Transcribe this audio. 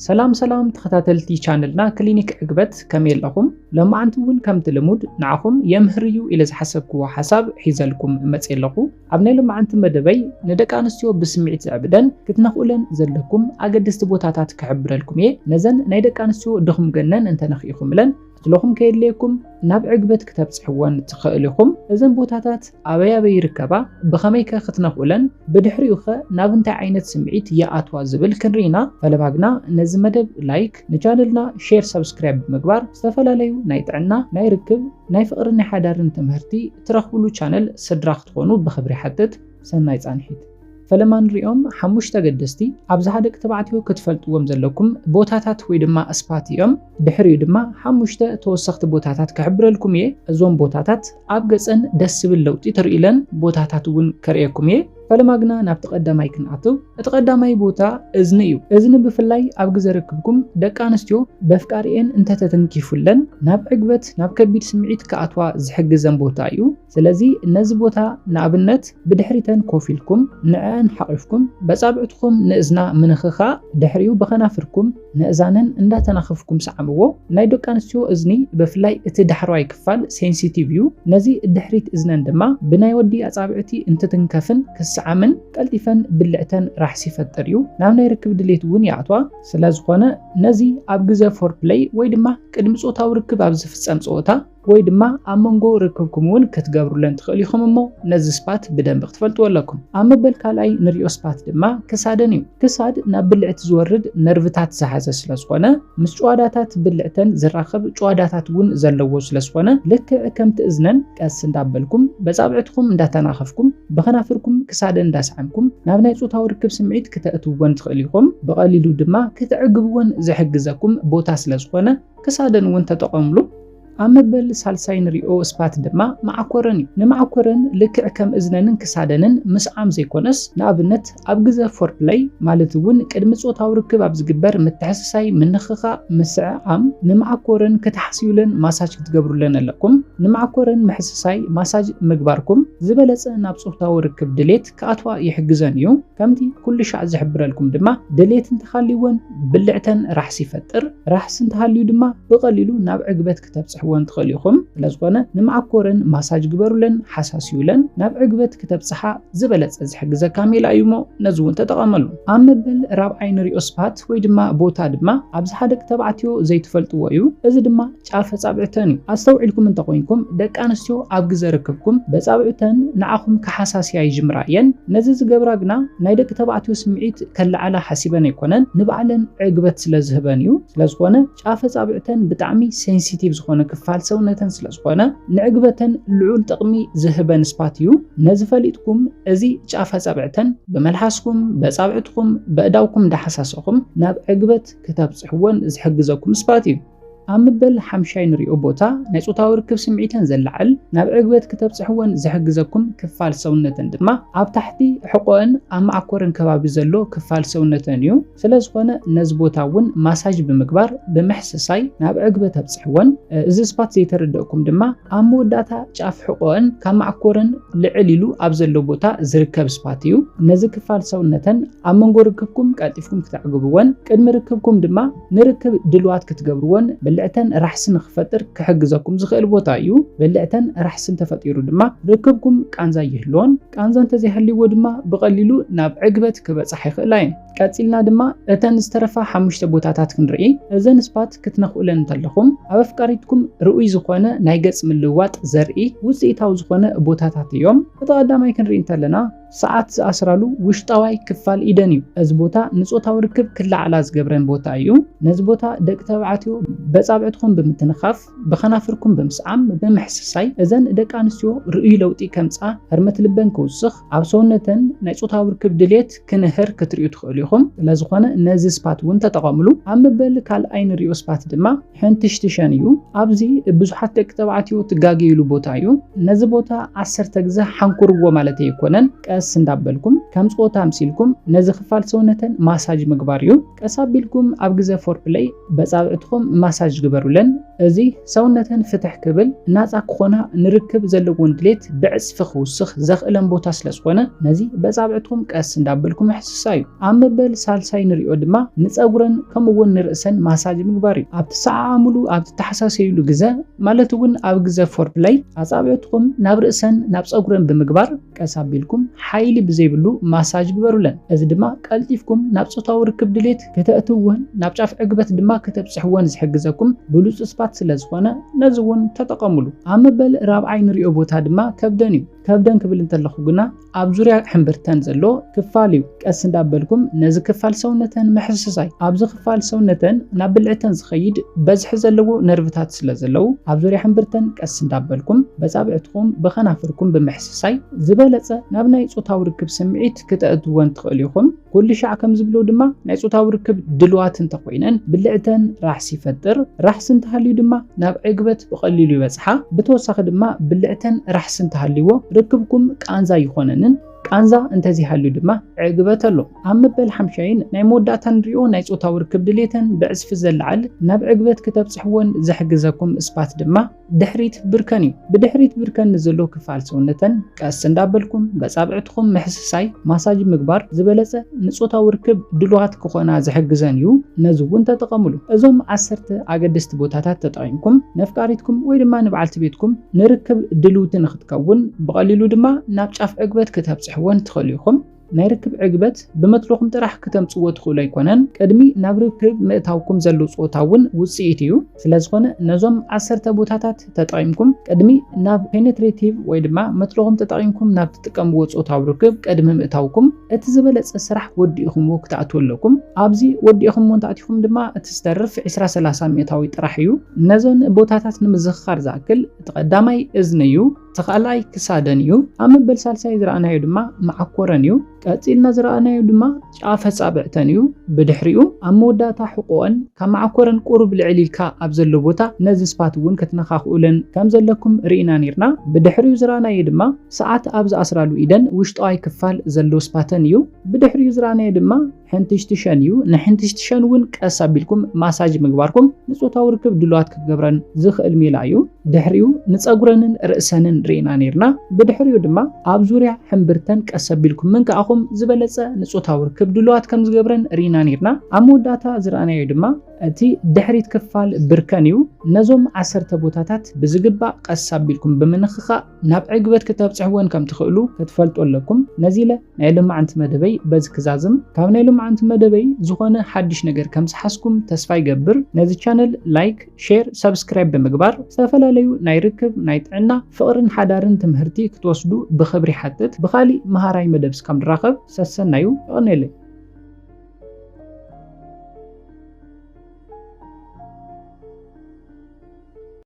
ሰላም ሰላም ተኸታተልቲ ቻነልና ክሊኒክ ዕግበት ከመይ ኣለኹም? ሎማዓንቲ እውን ከምቲ ልሙድ ንዓኹም የምህር እዩ ኢለ ዝሓሰብክዎ ሓሳብ ሒዘልኩም መፅየ ኣለኹ። ኣብ ናይ ሎማዓንቲ መደበይ ንደቂ ኣንስትዮ ብስምዒት ዘዕብደን ክትነኽኡለን ዘለኩም ኣገደስቲ ቦታታት ክሕብረልኩም እየ። ነዘን ናይ ደቂ ኣንስትዮ ድኹም ገነን እንተነኺእኹምለን ክትለኹም ከየድልየኩም ናብ ዕግበት ክተብጽሕወን ትኽእል ኢኹም። እዘን ቦታታት ኣበይ ኣበይ ይርከባ፣ ብኸመይ ከ ክትነኽኡለን፣ ብድሕሪኡ ከ ናብ እንታይ ዓይነት ስምዒት ይኣትዋ ዝብል ክንርኢ ኢና። ፈለማግና ነዚ መደብ ላይክ፣ ንቻነልና ሼር ሰብስክራይብ ብምግባር ዝተፈላለዩ ናይ ጥዕና፣ ናይ ርክብ፣ ናይ ፍቕርን ናይ ሓዳርን ትምህርቲ ትረኽብሉ ቻነል ስድራ ክትኾኑ ብኽብሪ ይሓትት። ሰናይ ጻንሒት። ፈለማ ንሪኦም ሓሙሽተ ኣገደስቲ ኣብዝሓ ደቂ ተባዕትዮ ክትፈልጥዎም ዘለኩም ቦታታት ወይ ድማ ስፓት እዮም። ድሕሪኡ ድማ ሓሙሽተ ተወሰኽቲ ቦታታት ክሕብረልኩም እየ። እዞም ቦታታት ኣብ ገፀን ደስ ዝብል ለውጢ ትሪኢለን ቦታታት እውን ከርእየኩም እየ። ፈለማ ግና ናብቲ ቀዳማይ ክንኣትው። እቲ ቀዳማይ ቦታ እዝኒ እዩ። እዝኒ ብፍላይ ኣብ ግዘ ርክብኩም ደቂ ኣንስትዮ በፍቃሪኤን እንተተተንኪፉለን ናብ ዕግበት ናብ ከቢድ ስምዒት ክኣትዋ ዝሕግዘን ቦታ እዩ። ስለዚ ነዚ ቦታ ንኣብነት ብድሕሪተን ኮፍ ኢልኩም ንዕዐን ሓቚፍኩም በጻብዕትኹም ንእዝና ምንኽኻእ ድሕሪኡ ብኸናፍርኩም ንእዛነን እንዳተናኸፍኩም ስዓምዎ። ናይ ደቂ ኣንስትዮ እዝኒ ብፍላይ እቲ ዳሕረዋይ ክፋል ሴንሲቲቭ እዩ። ነዚ ድሕሪት እዝነን ድማ ብናይ ወዲ ኣጻብዕቲ እንትትንከፍን ክስዓምን ቀልጢፈን ብልዕተን ራሕሲ ይፈጥር እዩ። ናብ ናይ ርክብ ድሌት እውን ይኣትዋ። ስለዝኾነ ነዚ ኣብ ግዘ ፎርፕለይ ወይ ድማ ቅድሚ ጾታዊ ርክብ ኣብ ዝፍጸም ጸወታ፣ ወይ ድማ ኣብ መንጎ ርክብኩም እውን ክትገብሩለን ትኽእሉ ኢኹም እሞ ነዚ ስፓት ብደንቢ ክትፈልጥዎ ኣለኩም። ኣብ መበል ካልኣይ ንሪኦ ስፓት ድማ ክሳደን እዩ። ክሳድ ናብ ብልዕቲ ዝወርድ ነርቭታት ዝሓዘ ስለ ዝኾነ ምስ ጭዋዳታት ብልዕተን ዝራኸብ ጭዋዳታት እውን ዘለዎ ስለ ዝኾነ ልክዕ ከምቲ እዝነን ቀስ እንዳበልኩም በፃብዕትኹም እንዳተናኸፍኩም ብኸናፍርኩም ክሳደን እንዳሰዓምኩም ናብ ናይ ፆታዊ ርክብ ስምዒት ክተእትውወን ትኽእሉ ኢኹም። ብቐሊሉ ድማ ክተዕግብወን ዝሕግዘኩም ቦታ ስለ ዝኾነ ክሳደን እውን ተጠቐምሉ። ኣብ መበል ሳልሳይ ንሪኦ ስፓት ድማ መዓኮረን እዩ። ንመዓኮረን ልክዕ ከም እዝነንን ክሳደንን ምስዓም ዘይኮነስ፣ ንኣብነት ኣብ ግዘ ፎርፕለይ ማለት እውን ቅድሚ ፆታዊ ርክብ ኣብ ዝግበር ምትሕስሳይ፣ ምንኽኻእ፣ ምስዕዓም፣ ንመዓኮረን ክትሓስዩለን ማሳጅ ክትገብሩለን ኣለኩም። ንመዓኮረን ምሕስሳይ፣ ማሳጅ፣ ምግባርኩም ዝበለፀ ናብ ፆታዊ ርክብ ድሌት፣ ክኣትዋ ይሕግዘን እዩ። ከምቲ ኩሉ ሻዕ ዝሕብረልኩም ድማ ድሌት እንተሃልይወን ብልዕተን ራሕሲ ይፈጥር። ራሕሲ እንተሃልዩ ድማ ብቐሊሉ ናብ ዕግበት ክተብጽሕወን ትኽእሉ ኢኹም። ስለዝኾነ ንመዓኮረን ማሳጅ ግበሩለን፣ ሓሳስዩለን። ናብ ዕግበት ክተብጽሓ ዝበለጸ ዝሕግዘካ ሜላ እዩ እሞ ነዚ እውን ተጠቐመሉ። ኣብ መበል ራብዓይ ንሪኦ ስፓት ወይ ድማ ቦታ ድማ ኣብዚ ሓደቂ ተባዕትዮ ዘይትፈልጥዎ እዩ። እዚ ድማ ጫፍ ኣጻብዕተን እዩ። ኣስተውዒልኩም እንተኾይንኩም ደቂ ኣንስትዮ ኣብ ግዘ ርክብኩም በጻብዕተን ንዓኹም ክሓሳስያ ይጅምራ እየን። ነዚ ዝገብራ ግና ናይ ደቂ ተባዕትዮ ስምዒት ከለዓዕላ ሓሲበን ኣይኮነን፣ ንባዕለን ዕግበት ስለ ዝህበን እዩ። ስለ ዝኾነ ጫፍ ኣጻብዕተን ብጣዕሚ ሴንሲቲቭ ዝኾነ ክፋል ሰውነተን ስለ ዝኾነ ንዕግበተን ልዑል ጥቕሚ ዝህበን ስፓት እዩ። ነዚ ፈሊጥኩም እዚ ጫፍ ኣጻብዕተን ብመልሓስኩም፣ በጻብዕትኹም፣ በእዳውኩም እንዳሓሳሰኹም ናብ ዕግበት ክተብጽሕወን ዝሕግዘኩም ስፓት እዩ። ኣብ ምበል ሓምሻይ ንሪኦ ቦታ ናይ ጾታዊ ርክብ ስምዒተን ዘላዕል ናብ ዕግበት ክተብጽሕወን ዝሕግዘኩም ክፋል ሰውነተን ድማ ኣብ ታሕቲ ሕቆአን ኣብ መዓኮረን ከባቢ ዘሎ ክፋል ሰውነተን እዩ። ስለዝኾነ ነዚ ቦታ እውን ማሳጅ ብምግባር ብምሕስሳይ ናብ ዕግበት ኣብጽሕወን። እዚ ስፓት ዘይተረደእኩም ድማ ኣብ መወዳእታ ጫፍ ሕቆአን ካብ መዓኮረን ልዕል ኢሉ ኣብ ዘሎ ቦታ ዝርከብ ስፓት እዩ። ነዚ ክፋል ሰውነተን ኣብ መንጎ ርክብኩም ቀልጢፍኩም ክተዕግብወን ቅድሚ ርክብኩም ድማ ንርክብ ድልዋት ክትገብርዎን ብልዕተን ራሕሲ ንክፈጥር ክሕግዘኩም ዝኽእል ቦታ እዩ። ብልዕተን ራሕሲ እንተፈጢሩ ድማ ርክብኩም ቃንዛ ይህልዎን ቃንዛ እንተዘይሃልይዎ ድማ ብቐሊሉ ናብ ዕግበት ክበጻሕ ይኽእላ እየን። ቀጺልና ድማ እተን ዝተረፋ ሓሙሽተ ቦታታት ክንርኢ። እዘን ስፓት ክትነኽኡለን እንተለኹም ኣብ ኣፍቃሪትኩም ርኡይ ዝኾነ ናይ ገጽ ምልውዋጥ ዘርኢ ውጽኢታዊ ዝኾነ ቦታታት እዮም። እቲ ቀዳማይ ክንርኢ እንተለና ሰዓት ዝኣስራሉ ውሽጣዋይ ክፋል ኢደን እዩ። እዚ ቦታ ንጾታዊ ርክብ ክለዓላ ዝገብረን ቦታ እዩ። ነዚ ቦታ ደቂ ተባዕትዮ በጻብዕትኹም ብምትንኻፍ፣ ብኸናፍርኩም ብምስዓም፣ ብምሕስሳይ፣ እዘን ደቂ ኣንስትዮ ርኡይ ለውጢ ከምጽኣ፣ ህርመት ልበን ክውስኽ፣ ኣብ ሰውነተን ናይ ጾታዊ ርክብ ድሌት ክንህር ክትርእዩ ትኽእሉ ኢኹም። ስለዝኾነ ነዚ ስፓት እውን ተጠቐምሉ። ኣብ መበል ካልኣይ ንሪኦ ስፓት ድማ። ሕንትሽትሸን እዩ። ኣብዚ ብዙሓት ደቂ ተባዕትዮ ትጋገይሉ ቦታ እዩ። ነዚ ቦታ ዓሰርተ ግዘ ሓንኩርዎ ማለት ኣይኮነን። ቀስ እንዳበልኩም ከም ፆታ ኣምሲልኩም ነዚ ክፋል ሰውነተን ማሳጅ ምግባር እዩ። ቀስ ኣቢልኩም ኣብ ግዘ ፎርፕለይ በፃብዕትኹም ማሳጅ ግበሩለን። እዚ ሰውነተን ፍትሕ ክብል፣ ናፃ ክኾና፣ ንርክብ ዘለዎን ድሌት ብዕፅፊ ክውስኽ ዘኽእለን ቦታ ስለዝኾነ ነዚ በፃብዕትኹም ቀስ እንዳበልኩም ምፍስሳይ እዩ። ኣብ መበል ሳልሳይ ንሪኦ ድማ ንፀጉረን ከምኡ እውን ንርእሰን ማሳጅ ምግባር እዩ። ኣብ ትሰዓዓሙሉ ኣብ ትተሓሳሰዩሉ ግዘ ማለት እውን ኣብ ግዘ ፎርፕለይ ኣፃብዕትኹም ናብ ርእሰን ናብ ፀጉረን ብምግባር ቀስ ኣቢልኩም ሓይሊ ብዘይብሉ ማሳጅ ግበሩለን። እዚ ድማ ቀልጢፍኩም ናብ ፆታዊ ርክብ ድሌት ክተእትውዎን ናብ ጫፍ ዕግበት ድማ ክተብፅሕዎን ዝሕግዘኩም ብሉፅ ስፓት ስለዝኾነ ነዚ እውን ተጠቐሙሉ። ኣብ መበል ራብዓይ ንሪኦ ቦታ ድማ ከብደን እዩ። ከብደን ክብል እንተለኹ ግና ኣብ ዙርያ ሕምብርተን ዘሎ ክፋል እዩ። ቀስ እንዳበልኩም ነዚ ክፋል ሰውነተን ምሕስሳይ። ኣብዚ ክፋል ሰውነተን ናብ ብልዕተን ዝኸይድ በዝሒ ዘለዎ ነርቭታት ስለ ዘለዉ ኣብ ዙርያ ሕምብርተን ቀስ እንዳበልኩም በጻብዕትኹም ብኸናፍርኩም ብምሕስሳይ ዝበለጸ ናብ ናይ ጾታዊ ርክብ ስምዒት ክተእትወን ትኽእሉ ኢኹም። ኩልሻዕ ከም ዝብሎ ድማ ናይ ጾታዊ ርክብ ድልዋት እንተኾይነን ብልዕተን ራሕሲ ይፈጥር፣ ራሕሲ እንተሃልዩ ድማ ናብ ዕግበት ብቐሊሉ ይበጽሓ፣ ብተወሳኺ ድማ ብልዕተን ራሕሲ እንተሃልይዎ ርክብኩም ቃንዛ ኣይኾነንን፣ ቃንዛ እንተዘይሃልዩ ድማ ዕግበት ኣሎ። ኣብ መበል ሓምሻይን ናይ መወዳእታ ንሪኦ ናይ ጾታዊ ርክብ ድሌተን ብዕጽፊ ዘለዓል ናብ ዕግበት ክተብጽሕወን ዝሕግዘኩም ስፓት ድማ፣ ድሕሪት ብርከን እዩ። ብድሕሪት ብርከን ንዘሎ ክፋል ሰውነተን ቀስ እንዳበልኩም በጻብዕትኹም ምሕስሳይ፣ ማሳጅ፣ ምግባር ዝበለጸ ንጾታዊ ርክብ ድሉዋት ክኾና ዝሕግዘን እዩ። ነዚ እውን ተጠቐምሉ። እዞም ዓሰርተ ኣገደስቲ ቦታታት ተጠቒምኩም ነፍቃሪትኩም ወይ ድማ ንበዓልቲ ቤትኩም ንርክብ ድልውቲ ንክትከውን ብቐሊሉ ድማ ናብ ጫፍ ዕግበት ክተብጽሕወን ትኽእሉ ኢኹም። ናይ ርክብ ዕግበት ብመትሎኹም ጥራሕ ክተምጽዎ ትኽእሉ ኣይኮነን፣ ቅድሚ ናብ ርክብ ምእታውኩም ዘሎ ጾታ እውን ውጽኢት እዩ። ስለዝኾነ ነዞም ዓሰርተ ቦታታት ተጠቒምኩም ቅድሚ ናብ ፔኔትሬቲቭ ወይ ድማ መትሎኹም ተጠቒምኩም ናብ ትጥቀምዎ ጾታዊ ርክብ ቅድሚ ምእታውኩም እቲ ዝበለጸ ስራሕ ወዲእኹምዎ ክትኣትዉ ኣለኩም። ኣብዚ ወዲእኹምዎ እንተኣቲኹም ድማ እቲ ዝተርፍ ዕስራ ሰላሳ ሚእታዊ ጥራሕ እዩ። ነዘን ቦታታት ንምዝኽኻር ዝኣክል እቲ ቀዳማይ እዝኒ እዩ። እቲ ካልኣይ ክሳደን እዩ። ኣብ መበል ሳልሳይ ዝረኣናዮ ድማ መዓኮረን እዩ። ቀጺልና ዝረኣናዮ ድማ ጫፍ ኣጻብዕተን እዩ። ብድሕሪኡ ኣብ መወዳእታ ሕቖኣን ካብ መዓኮረን ቁሩብ ልዕል ኢልካ ኣብ ዘሎ ቦታ ነዚ ስፓት እውን ክትነኻኽኡለን ከም ዘለኩም ርኢና ኔርና። ብድሕሪኡ ዝረኣናዮ ድማ ሰዓት ኣብ ዝኣስራሉ ኢደን ውሽጣዋይ ክፋል ዘሎ ስፓተን እዩ። ብድሕሪኡ ዝረኣናዮ ድማ ሕንትሽትሸን እዩ። ንሕንትሽትሸን እውን ቀስ ኣቢልኩም ማሳጅ ምግባርኩም ንጾታዊ ርክብ ድሉዋት ክገብረን ዝኽእል ሜላ እዩ። ድሕሪኡ ንጸጉረንን ርእሰንን ርኢና ነይርና፣ ብድሕሪኡ ድማ ኣብ ዙርያ ሕምብርተን ቀስ ኣቢልኩም ምንካዕኹም ዝበለጸ ንጾታዊ ርክብ ድሉዋት ከም ዝገብረን ርኢና ነይርና። ኣብ መወዳእታ ዝረኣናዮ ድማ እቲ ድሕሪት ክፋል ብርከን እዩ። ነዞም ዓሰርተ ቦታታት ብዝግባእ ቀስ ኣቢልኩም ብምንኽኻእ፣ ናብ ዕግበት ክተብጽሕወን ከም ትኽእሉ ክትፈልጡ ኣለኩም። ነዚ ኢለ ናይ ልማዓንቲ መደበይ በዚ ክዛዝም። ካብ ናይ ልማዓንቲ መደበይ ዝኾነ ሓድሽ ነገር ከም ዝሓዝኩም ተስፋ ይገብር። ነዚ ቻነል ላይክ፣ ሼር፣ ሳብስክራይብ ብምግባር ዝተፈላለዩ ናይ ርክብ፣ ናይ ጥዕና፣ ፍቕርን ሓዳርን ትምህርቲ ክትወስዱ ብኽብሪ ይሓትት። ብኻሊእ መሃራይ መደብ እስካብ ንራኸብ ሰሰናዩ። የቐኔለይ።